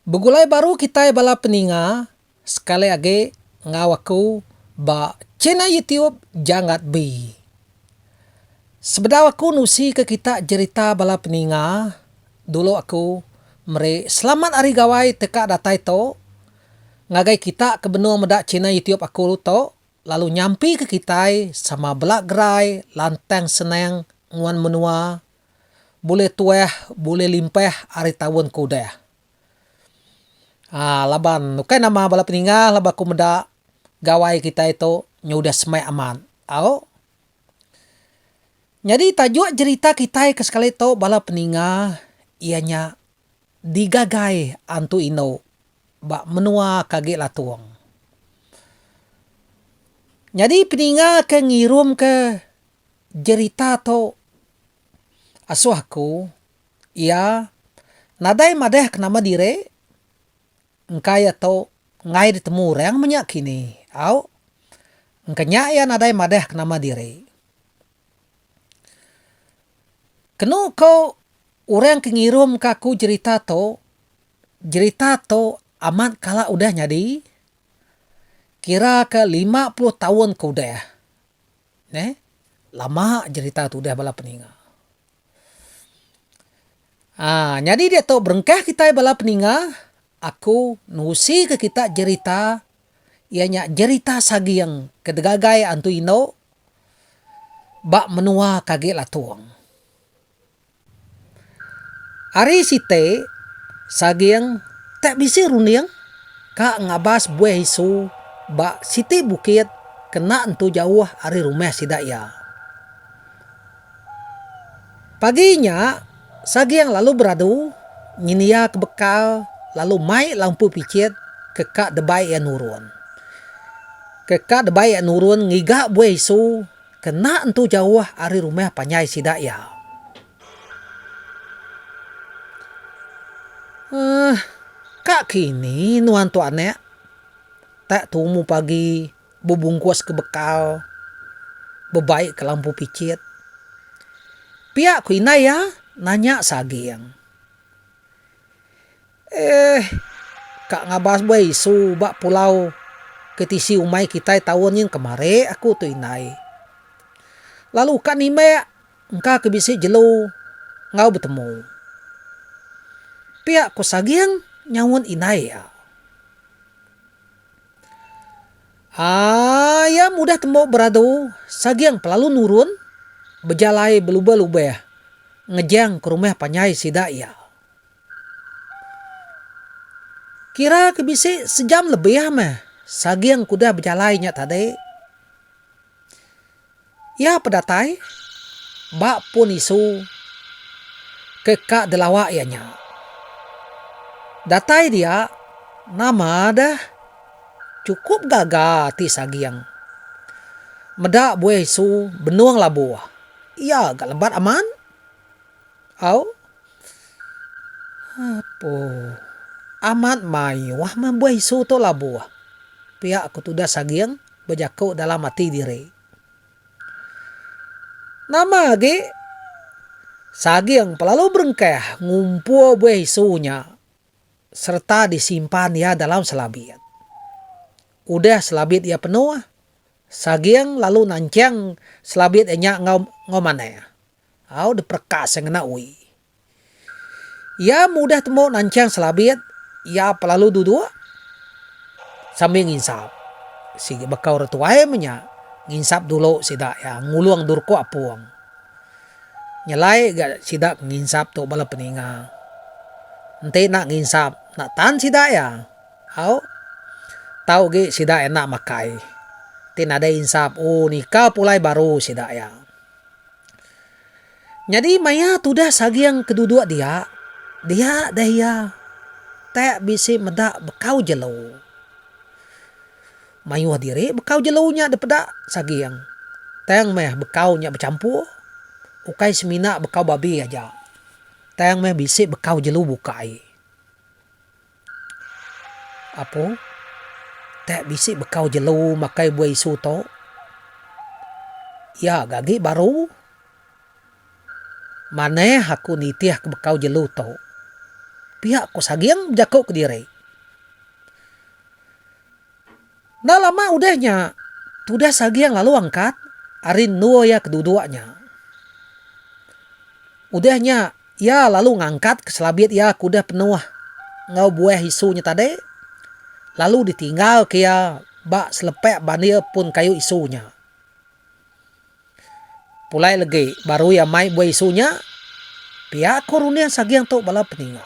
Begulai baru kitai bala peninga. Sekali agi enggau aku ba channel YouTube Janggat B. Sebedau aku nusi ke kita jerita bala peninga, dulu aku meri selamat hari gawai teka datai tu ngagai kita ke benung meda channel YouTube aku tu lalu nyampi ke kitai sama bela gerai lantang senang nguan menua bulih tuah bulih limpah ari taun ke udah. Haa laban ukai nama bala peningah laban aku meda gawai kitai tu nyu udah smart amat au. Nyadi tajuk jerita kitai ke sekali tu bala peningah iya nya digagai antu indu ba menua ke agi latung. Nyadi peningah ke ngirumka jerita tu asuh aku. Iya nadai madah ke nama diri engka iya tu enggai ditemu orang menya kini. Au. Engka nya iya nadai madah ke nama diri. Kenu ko orang ke ngirum ka aku jerita tu, jerita tu amat kala udah nyadi, kira ke lima puluh taun ke udah. Neh. Lama jerita tu udah bala peninga. Aa, nyadi diatu berengkah kitai bala peninga, aku nerusika kita jerita iya nya jerita saging ke digagai antu indu ba menua ke agi latung. Ari siti, saging tak bisi runding ka ngabas buih isu ba siti bukit ke enda entu jauh ari rumah sida iya. Pagi nya, Saging lalu beradu nyendia ke bekal lalu mai lalu empu pichit ke ka debai iya nurun. Ke ka debai iya nurun ngiga buai isu ke enda entu jauh ari rumah panjai sida iya. Uhh, ka kini nuan tu anak tak tumu pagi. bebungkus ke bekal bebai ke lampu pichit. Pia ku indai iya nanya Saging. Eeh ka ngabas buai isu ba pulau ke tisi umai kitai taun nyin kemari aku tu indai. Lalu ka nimbek engka ke bisi jelu enggau betemu. Pia ku Saging nyaut indai iya. Haa iya mudah tembu beradu saging pelalu nurun bejalai belubah-lubah ngejang ke rumah panjai sida iya. Kira ke bisi sejam lebih meh saging ke udah bejalai nya tadi. Iya pedatai ba pun isu ke ka delawa iya nya. Datai dia nama deh chukup gaga ati Sagging. Meda buih isu benung labu iya ga lebat amat. Au. Apo. Amat mayuh meh buih isu tu labu pia ku tudah Sagging. bejaku dalam ati diri. Nama agi Saging pelalu berengkah ngumpul buih isu nya sereta disimpan iya dalam selabit. Udah selabit iya penuh, Saging lalu nanching selabit iya nya enggau enggau manah. Au diperekas iya ngena ui. Iya mudah tembu nanchang Selabit, iya pa lalu duduk sambil nginsap. Sigi baka orang tuai meh nya, nginsap dulu sida iya, ngulung durko apung. Nyelai ga sida ke nginsap tu bala peninga. Enti enda nginsap, enda tan sida iya. Au, tau agi sida enda makai. Ti nadai insap, oh nika pulai baru sida iya. Nyadi maya tudah Saging keduduk dia, dia deh iya tak bisi meda bekau jelu. Mayuh diri bekau jelu nya dipeda Saging, tang meh bekau nya bechampur, ukai semina bekau babi aja, tang meh bisi bekau jelu bukai. Apu, tak bisi bekau jelu makai buah isu tu. Iya ga agi baru. Manah aku nitih ke bekau jelu tu. Pia ku Saging bejaku kediri. Enda lama udah nya, tudas Aging lalu angkat ari endur iya ke duduk nya. Udah nya, iya lalu ngangkatka selabit iya ke udah penuh enggau buah isu nya tadi, lalu ditinggalka iya ba selepak bandir pun kayu isu nya. Pulai legi barui amai buai isu nya, pia ko runding saging tu bala peninga.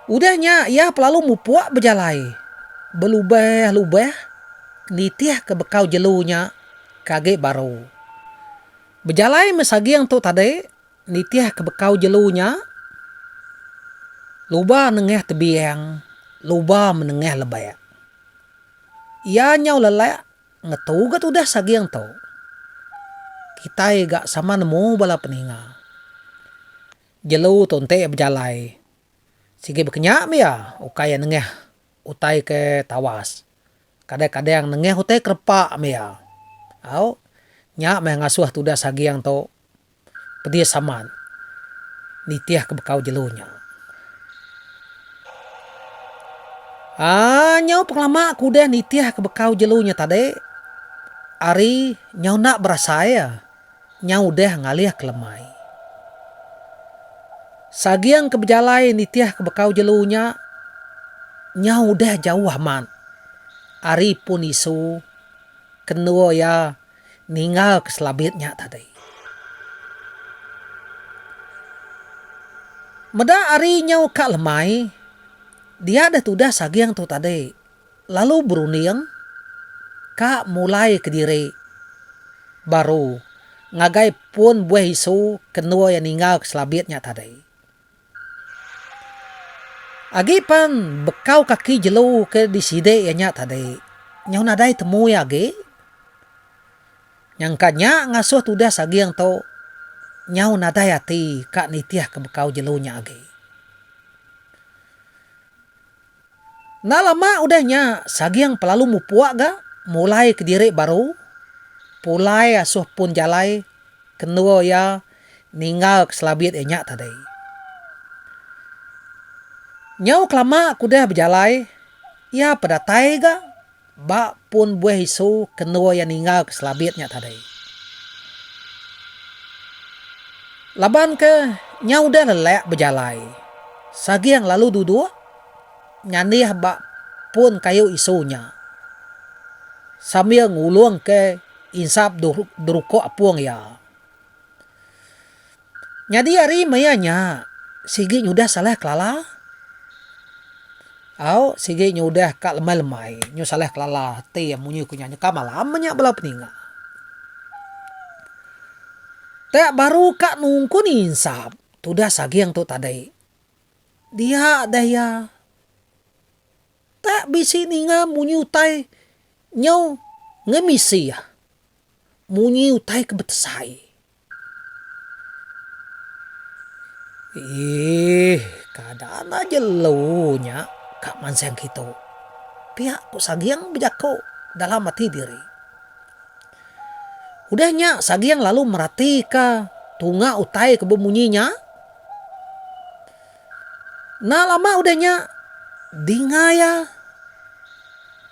Udah nya iya pelalu mupuk bejalai belubah-lubah nitih ke bekau jelu nya ke agi baru. Bejalai meh saging tu tadi nitih ke bekau jelu nya luba nengah tebiang luba menengah lebak. Iya nyau lelak ngetuget udah saging tu. Kitai ga sama nemu bala peninga. Jelu tu enti bejalai sigi bekenya meh iya ukai iya nengah utai ke tawas. Kadang-kadang nengah utai ke repa meh iya. Au, nya meh ngasuh tudah saging tu Pedis amat nitih ke bekau jelu nya. Aaa nyau pengelama ke udah nitih ke bekau jelu nya tadi ari nyau enda berasai a nyau udah ngalih ke lemai. Saging ke bejalai nitih ke bekau jelu nya nyau udah jauh amat ari pun isu ke endur iya. Ninggal ke selabit nya tadi. Meda ari nyau ka lemai, dia deh tudah saging tu tadi, lalu berunding ka mulai ke diri baru ngagai pun buah isu ke endur iya ninggal ke selabit nya tadi. Agi pan bekau kaki jelu ke disidi iya nya tadi. Nyau nadai temu iya agi. Nyangka nya ngasuh tudah saging tu nyau nadai ati ka nitihka bekau jelu nya agi. Enda lama udah nya, Saging pelalu mupuk ga mulai kediri baru. Pulai asuh pun jalai kendur iya ninggal ke selabit iya nya tadi. Nyau kelama ke udah bejalai, iya pedatai ga. Ba pun buih isu kenua iya ninggal ke Selabit nya tadi. Laban ke nya udah lelak bejalai Saging lalu duduk nyanih ba pun kayu isu nya sambil ngulung ke insap derukok apung iya. Nyadi ari maya nya, sigi nyudah salah kelala. Au, sigi nyudah ka lemai-lemai nyu salah kelala ti iya munyi ku nya nyeka malam nya bala peninga. Te baru ka nungku ni insap tudah saging tu tadi. Dia deh iya. Te bisi ninga munyi utai nyu ngemisi iya. Munyi utai ke betesai. Eeh, kada anah jelu nya ka mansang kitu, piak ku Saging bejaku dalam ati diri. Udah nya Saging lalu meratika tunga utai ke bemunyi nya. Enda lama udah nya dinga iya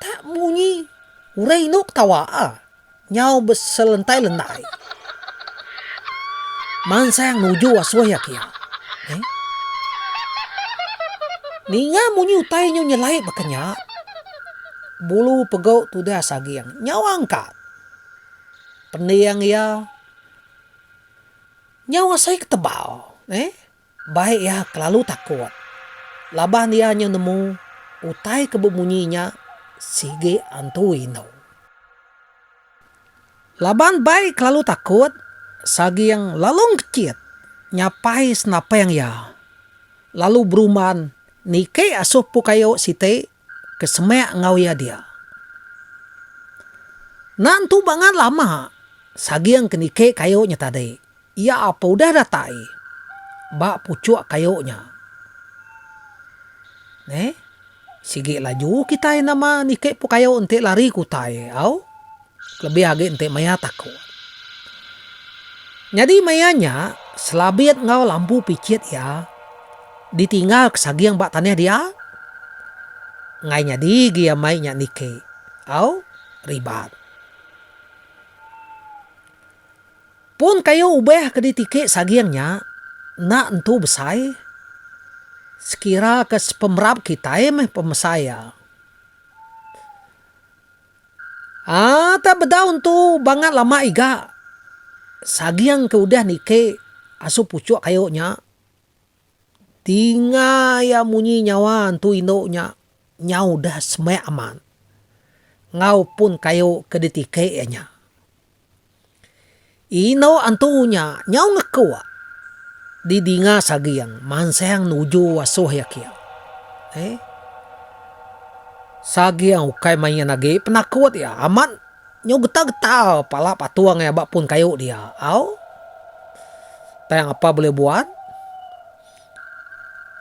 tak munyi urang indu ketawa. nyau beselentai-lentai mansang nuju asuh iya kiya. Eh? Ninga munyi utai nyu nyelai baka nya, bulu pegau tudah saging nyau angkat. Pending iya nyau asai ke tebal. Eh? Bai iya kelalu takut laban iya nyau nemu utai ke bemunyi nya sigi antu indu. Laban Bai kelalu takut, Saging lalu ngechit nyapai senapang iya lalu berumban niki asuh Pukayu siti ke semak enggau iya dia. Enda entu bangat lama, Saging ke niki kayu nya tadi, iya ape udah datai ba puchuk kayu nya. Neh, sigi laju kitai nama niki pun kayu enti lari ke utai au. Kelebih agi enti maya taku. Nyadi maya nya Selabit enggau Lampu Pichit iya ditinggalka saging ba tanah dia. Enggai nyadi agi amai nya niki. Au Ribat. Pun kayu ubah ke ditiki saging nya enda entu besai sekiraka sepemerap kitai meh pemesai iya. Aa tah bedaun tu bangat lama iga. Saging ke udah niki asu puchuk kayu nya. Dinga iya munyi nyawa entu indu nya nya udah semek amat. Enggau pun kayu ke ditiki iya nya. Indau antu nya nyau ngekuk di dinga Saging mansang nuju asoh iya kiang. Heh. Saging ukai main agi penakut iya amat nyau getar-getar pala patung iya ba pun kayu dia. Au. Tang apa bulih buat,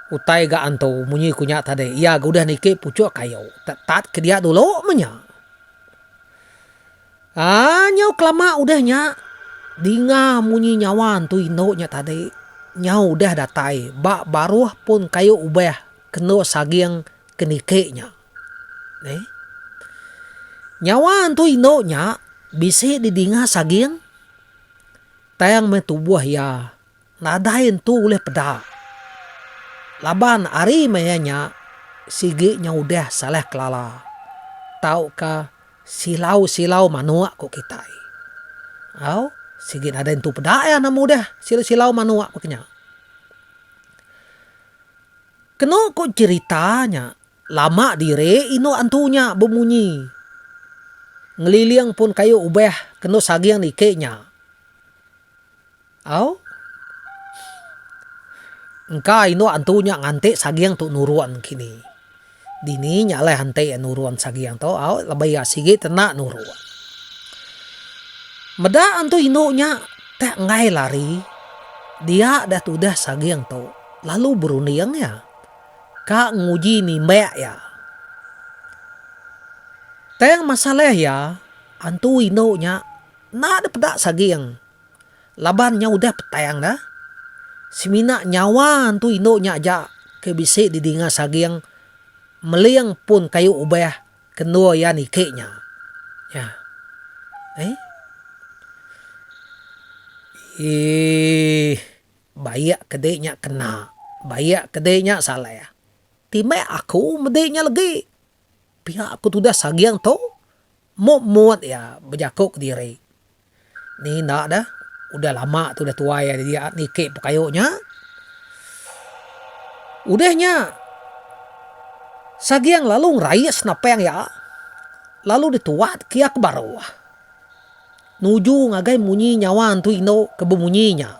utai ga antu munyi ku nya tadi iya ga udah niki pucuk kayu. Tetat ke dia dulu meh nya. Haa nyau kelama udah nya dinga munyi nyawa entu indu nya tadi nyau udah datai ba baruh pun kayu ubah kenu saging ke niki nya. Neh. Nyawa entu indu nya bisi didinga saging tang meh tubuh iya. Nadai entu ulih peda. Laban ari maya nya sigi nya udah salah kelala tauka silau-silau manuk ku kitai. Au, sigi nadai entu peda iya nama udah silau-silau manuk baka nya. Kenu ku cherita nya, lama diri indu antu nya bemunyi ngeliling pun kayu ubah kenu saging niki nya. Au. Engka indu antu nya nganti saging tu nurun kini. Dini nya alai hanti iya nurun saging tu au laban iya sigi te enda nurun. Meda antu indu nya te enggai lari dia deh tudah saging tu lalu berunding iya ka nguji nimbek iya. Tang masalah iya antu indu nya enda deh peda saging Laban nya udah petang da, semina nyawa entu indu nya aja ke bisi didinga saging meling pun kayu ubah ke endur iya niki nya. Nya. Ai. Eii. Baik ke dek nya kena. Baik ke dek nya salah. Timbai aku mede nya legi. Pia aku tudah saging tu. Mut-mut iya bejaku ke diri, Ni enda dah, udah lama tu udah tuai iya jadi niki pekayo nya. Udah nya Saging lalu ngerai senapang iya lalu dituat ke iya ke baru. Nuju ngagai munyi nyawa entu indu ke bemunyi nya.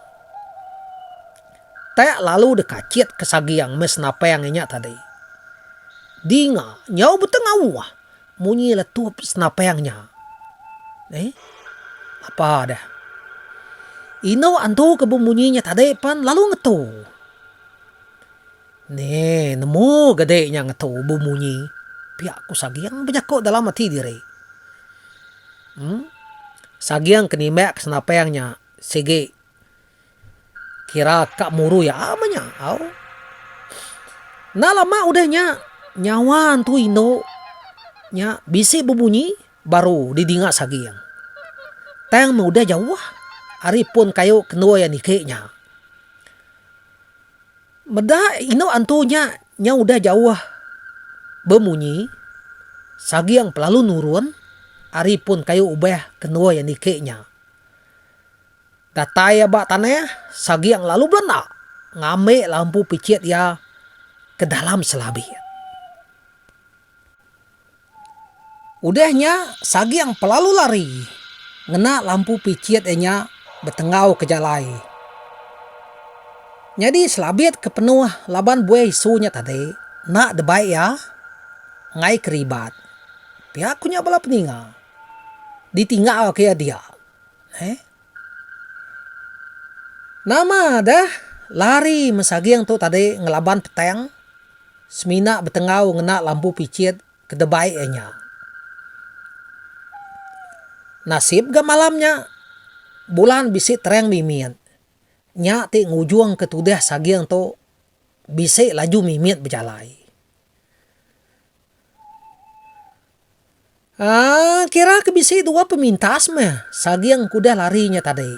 Tak lalu dikachit ke Saging meh senapang iya nya tadi. Dinga nyau betengawa. Munyi letup senapang nya. Neh. Apa deh. Inu antu ke bemunyi nya tadi pan lalu ngetu. Neh, nemu gede nya ngetu bemunyi. Piak ku Saging bejaku dalam ati diri. Em. Saging ke nimbak ke senapang nya sigi. Kira ka murui ama nya au. Enda lama udah nya, nyawa Entu Indu nya bisi bebunyi baru didinga Saging. Tang meh udah jauh ari pun kayu ke endur iya niki nya. Meda indu antu nya nyau udah jauh bemunyi, Saging pelalu nurun ari pun kayu ubah ke endur iya niki nya. Datai iya ba tanah Saging lalu belenda ngambiklah empu pichit iya ke dalam selabi. Udah nya Saging pelalu lari ngena lah empu pichit iya nya betenggau ke jalai. Nyadi selabit ke penuh laban buai isu nya tadi enda debai iya enggai ke ribat. Pia ku nya bala peninga ditinggalka iya dia. Heh. Nama deh lari mesaging tu tadi ngelaban petang semina betenggau ngena lampu pichit ke debai iya nya. Nasib ga malam nya bulan bisi terang mimit. Nya ti ngujungka tudah saging tu bisi laju mimit bejalai. Aaa kira ke bisi dua pemintas meh Saging ke udah lari nya tadi.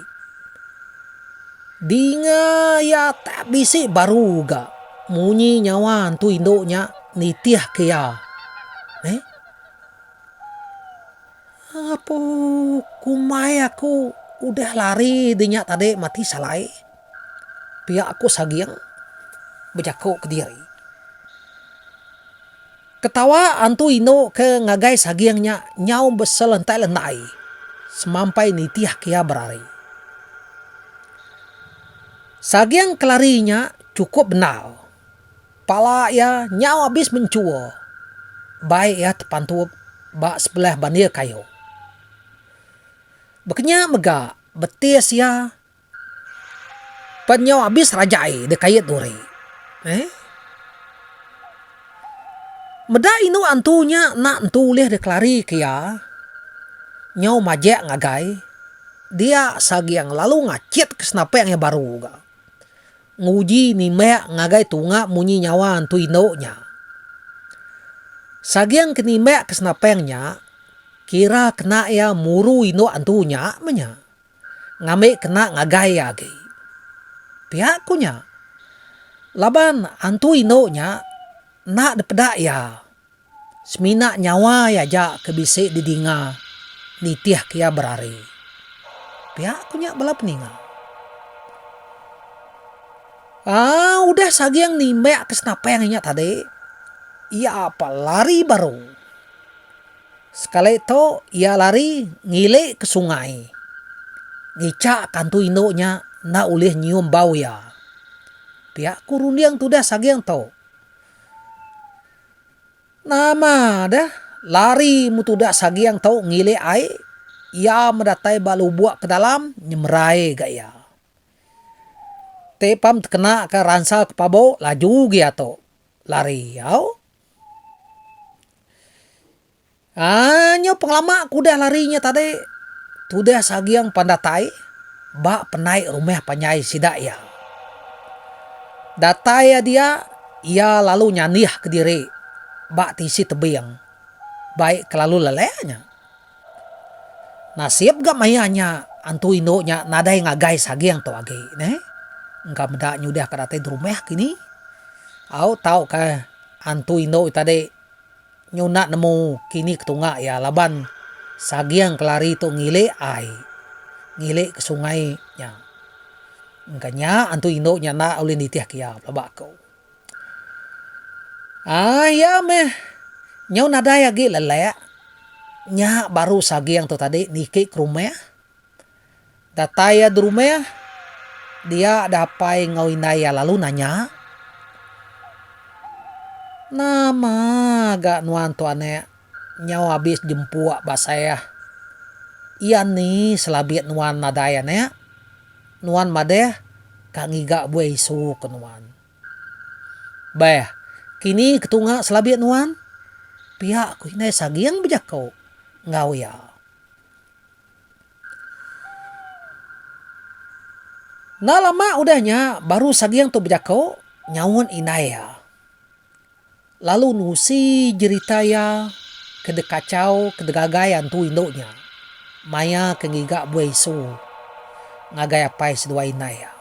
Dinga iya tak bisi baru ga munyi nyawa entu indu nya nitih ke iya. Eii apuuh kumbai aku udah lari dinya tadi mati salai. Pia aku Saging bejaku kediri. Ketawa antu indu ke ngagai Saging nya nyau beselentai-lentai semampai nitihka iya berari. Saging ke lari nya chukup bendar. Pala iya nyau abis menchua bai iya tepantup ba sebelah bandir kayu. Bekenya mega betis iya. Pan nyau abis raja ai deh kait duri. Eh. Meda indu antu nya enda entu ulih deh kelari ke iya. Nyau majek ngagai dia Sagiang lalu ngachit ke senapang iya baru ga. Nguji nimbak ngagai tunga munyi nyawa antu indu nya. Sagiang ke nimbak ke senapang nya kira kena iya muru indu antu nya meh nya. ngambi kena ngagai iya agi. Pia ku nya laban antu indu nya enda dipeda iya semina nyawa iya aja ke bisi didinga nitihka iya berari. Pia ku nya bala peninga. Aa udah saging nimbakka senapang inya tadi, iya pa lari baru. Sekali tu iya lari ngili ke sungai. Ngichak kantu indu nya enda ulih nyium bau iya. Pia ku runding tudah saging tu. Nama deh lari meh tudah saging tu ngili ai, iya meh datai ba lubok pedalam nyemerai ga iya. Ti pam tekena ka ransa ke pabu laju gia tu lari au. Aa nyau pengelama ke udah lari nya tadi tudah saging pan datai ba penai rumah panjai sida iya. Datai iya dia iya lalu nyanih kediri ba tisi tebing bai kelalu lelek nya. Nasib ga maya nya antu indu nya nadai ngagai saging tu agi neh. Engka meda nyudah ka datai derumah kini. Au tau ka antu indu nya tadi nyunak nemu kini ketunga iya laban saging kelari tu ngilik ai, ngilik ka sungai nya. Engka nya antu indu nya enda ulih nitih ka iya, pelaba aku. Aaa iya meh. Nyau nadai agi lelek. Nya baru saging tu tadi niki ke rumah. Datai iya di rumah, dia deh apai enggau indai iya lalu nanya, Nama ga nuan tu anak Nyau abis jempuk ba Saeh. Iya ni selabik nuan nadai anak? Nuan madah ka ngiga buai isu ke nuan. Beh, kini ketunga selabik nuan? Pia ku indai Saging bejaku enggau iya. Enda lama udah nya baru Saging tu bejaku nyaut indai iya. Lalu nusi jerita iya ke dekachau ke degagai antu indu nya maya ke ngiga buai isu ngagai apai seduai indai iya.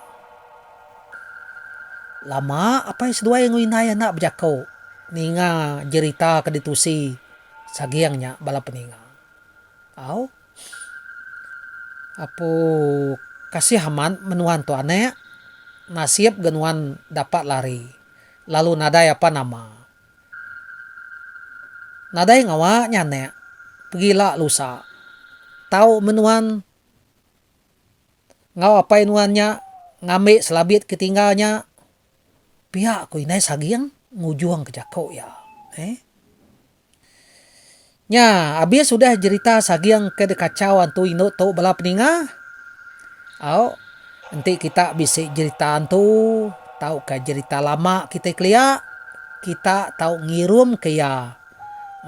Lama apai seduai enggau indai iya enda bejako ninga jerita ke ditusi Saging nya bala peninga. Au. Apu kasih amat menua tu anak. Nasib ga nuan dapat lari. lalu nadai apan nama. Nadai ngawa nya anek pegi la lusa. Tau meh nuan ngau apai nuan nya ngambi selabit ke tinggal nya pia ku indai saging ngujung ke jako iya. He. Nya, abis udah jerita saging ke dikachau antu indu tu bala peninga, au enti kita bisi jerita antu tauka jerita lama kitai kelia, kita tau ngirumka iya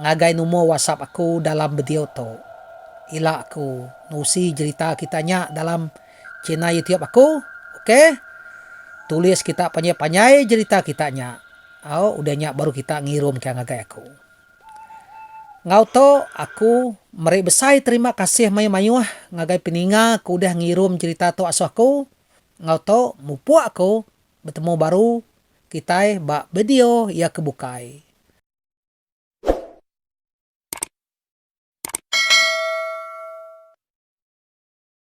ngagai number whatsapp aku dalam video tu. Ila aku nusi jerita kita nya dalam. China youtube aku ok. Tulis kita panjai panjai jerita kita nya au udah nya baru kita ngirum ka ngagai aku. Enggau tu aku meri besai terima kasih mayuh mayuh ngagai peninga ke udah ngirum jerita tu asoh aku enggau tu mupuk aku betemu baru kitai ba video iya ke bukai.